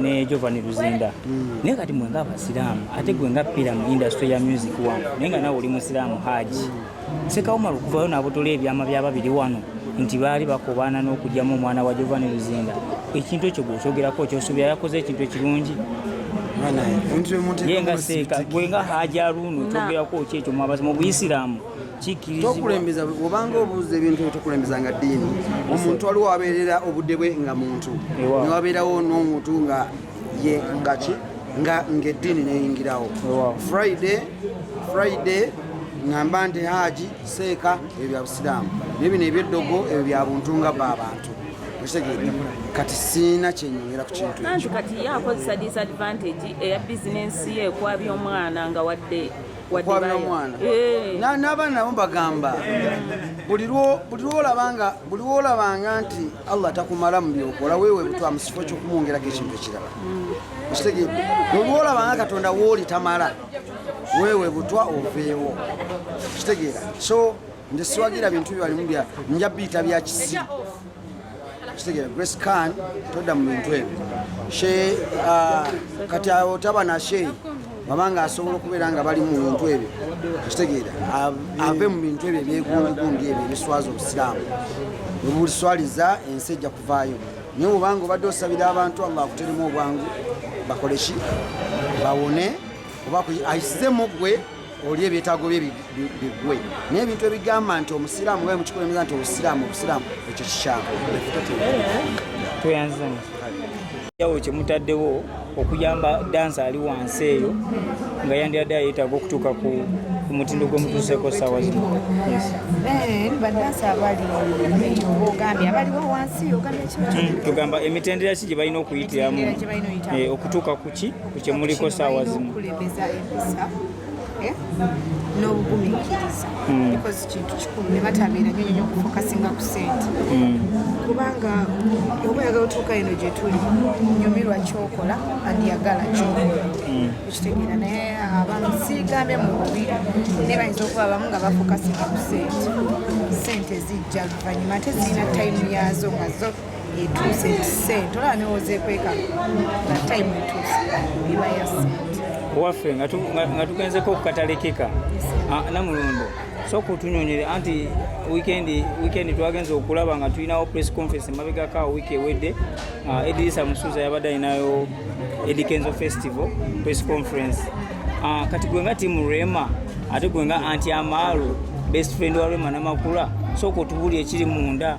ne Giovanni Luzinda mm. naye kati mwe nga abasiraamu ate gwe nga pira mu industry ya music wano naye nga nawe oli musiraamu haji mm. sekawumala okuvayo nabotola ebyama byababiri wano nti baali bakobaana n'okugyamu omwana wa Giovanni Luzinda ekintu ekyo gwekyogerako kyosuubira yakoze ekintu ekirungi ye nga seeka gwe nga haji aruuno kyogerako ki ekyo mwabazi mu buyisiraamu tokulembeza obanga obuuza ebintu ebyo tokulembeza nga ddiini omuntu waliwo abeerera obudde bwe nga muntu newabeerawo n'omuntu nga ye ngaki nga ng'eddiini neyingirawo friday friday ngamba nti haaji seeka ebyo bya busiraamu naye bino ebyeddogo ebyo bya buntu nga ba abantu okitegedde kati siina kyenyongera ku kintu ekyo kati ye akozesa disadvantage eya bizinensi ye ekwabya omwana nga wadde okwabira omwana eh. n'abaana nabo bagamba buli lwolabanga nti allah takumala mu byokola wewe butwa mu kifo kyokumwongerako ekintu ekirala mm. okitegede olwolabanga katonda wooli tamala wewe butwa oveewo okitegeera so nze siwagira bintu byalimu bya nja biyita bya kisi kitegera grace can todda mu bintu ebyo she uh, kati awo taba nashe baba nga asobola okubeera nga bali mu bintu ebyo kitegeera ave mu bintu ebyo ebyegundugundi ebyo ebiswaza obusiraamu webuliswaliza ensi ejja kuvaayo naye mubanga obadde osabira abantu allah akuteremu obwangu bakoleki bawone oba ayisizemu gwe oli ebyetaago bye bigwe naye ebintu ebigamba nti omusiraamu oba mukikulembeza nti obusiraamu obusiraamu ekyo kikyamu tweyanzanyawo kyemutaddewo okuyamba dansi ali wansi eyo nga yandiyadde ayetaaga okutuuka ku mutindo gwemutuuseko saawa zino eh, badansi abali ogambye abaliwo wansi ogambye hmm, tugamba emitendera ki gye balina okuyitiramu eh, okutuuka ku ki kukyemuliko saawa zimu eh? n'obugumiikiriza hmm. because kintu kikulu ne batabeera nyo nyo okufokasinga ku sente hmm. kubanga oba oyagala otuuka eno gye tuli nyumirwa kyokola andiyagala kyokola hmm. okitegeera naye abamu siigambye mu bubi naye bayinza okuba abamu nga bafokasinga ku sente sente zijja luvannyuma ate zirina tayimu yaazo nga zo etuuse nti sente olaba newozeekweka nga time etuuse eba ya sente waffe nga tugenzeko okukatalekeka ah, namulundo so kutunyonyere anti wikendi wikendi twagenza okulaba nga tulinawo press conference emabegako awo wiiki ewedde ah, edirisa musuuza yabadde alinayo edikenzo festival press conference ah, kati gwe nga timu rema ate gwe nga anti amaalu best friend wa rema namakula so kutubuli ekiri munda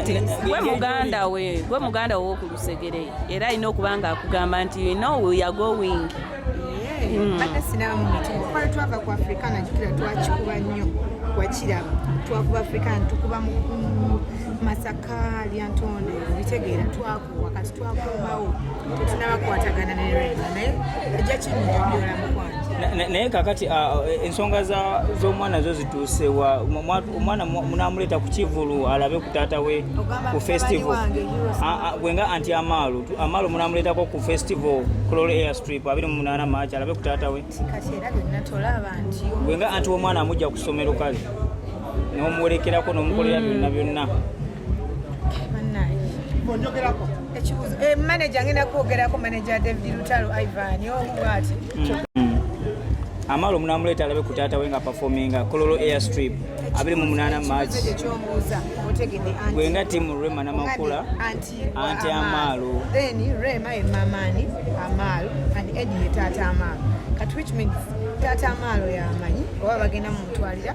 nti gwe muganda we gwe muganda wo ku lusegere era alina okuba nga akugamba nti you know we are going hmm. badde sinamu nti okufala twava ku afrika nakikira twakikuba nnyo wakiraba twakuba afrika ntukuba masaka lyantonde bitegeera twaku wakati twakomawo tetunabakwatagana ne rema naye ejja kinyonyola mukwano naye kakati ah, eh, ensonga z'omwana zo zituusewa omwana munamuleeta ku kivulu alabe ku taata we ku festival ah, ah, gwenga anti amaalo amaalo munamuleetako ku festival clol air strip abiri mu munaana maaci alabe ku taata we gwenga anti omwana amujja ku ssomero kale nomuwerekerako nomukolera byonna byonna ekibuzo eh, manager ngenda kwogerako manager david lutalo ivan omu bwati mm-hmm. amala omunamuleeta alabe ku taata we nga performinga kololo air strip abiri mu munaana march gwenga timu rema namakula anti amaalo taata amaalo yamanyi oba bagenda mumutwalira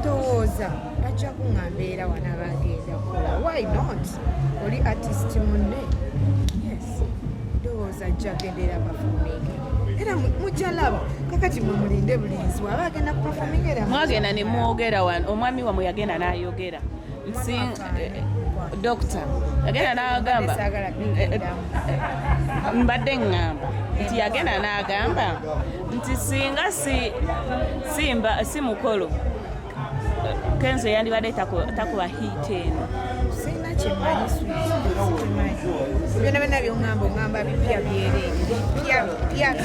ndowooza bajja kuŋamba era wana bagenda kola why not oli artist munne yes ndowooza ajja gendera bafuminge era mujja laba kakati mumulinde bulinzi waba agenda kupafuminga era mwagenda ne mwogera wano omwami wamwe yagenda n'ayogera dokita yagenda n'agamba mbadde ŋŋamba nti yagenda n'agamba nti singa simba si mukolo kenzo yandibadde takuba hiit eno sirina kyemanyi byona byona byoŋamba oŋamba bipya byereere